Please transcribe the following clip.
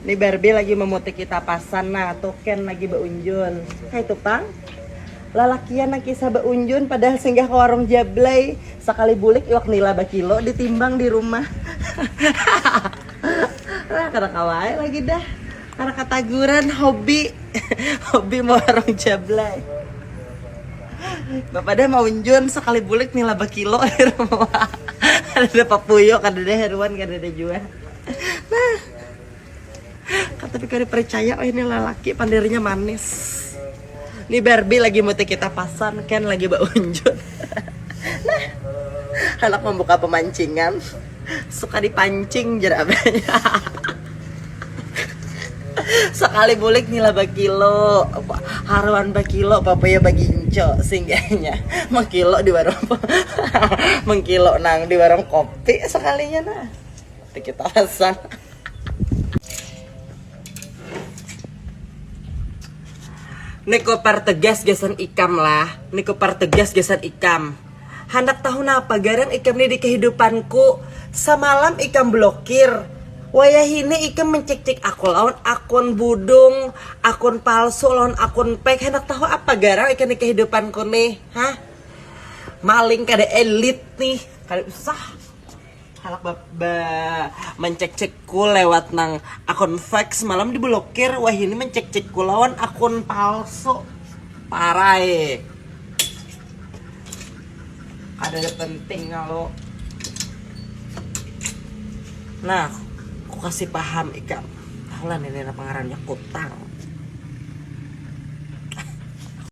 Ni Barbie lagi memutiki tapasan nah, Token lagi beunjun. Kaitu pang. Lalakian nang kisah beunjun padahal singgah ka warung Jablay. Sakali bulik iwak nila bakilo ditimbang di rumah. Hahaha. Kada kawa ai lagi dah. Kada kataguran hobi. Hobi mewarung Jablay. Bapadah maunjun sakali bulik nila bakilo jar. Kadada papuyo, kadada haruan, kadada jua. Nah, kata pikir percaya oh ini lelaki pandirnya manis. Ini Barbie lagi muti kita pasan, Ken lagi baunjut. nah, anak membuka pemancingan, suka dipancing jer abahnya. Sekali bulik nila bakilo, haruan bakilo, papaya baginco, singgahnya mengkilo di warung mengkilo nang di warung kopi sekalinya nah. Dikit alasan. Niko pertegas gasan ikam lah. Niko pertegas gasan ikam. Handak tahu napa garang ikam ni di kehidupanku. Samalam ikam blokir. Wayah ini ikam mencik-cik aku lawan akun budung, akun palsu lawan akun pek. Handak tahu apa garang ikam di kehidupanku nih. Hah? Maling kada elit nih. Kada usah. Halak ba, ba mencek-cekku lewat nang akun fake semalam diblokir wahini mencek-cekku lawan akun palsu parai ada penting kalau nah aku kasih paham ikam tahulah ini apa ngarannya kutang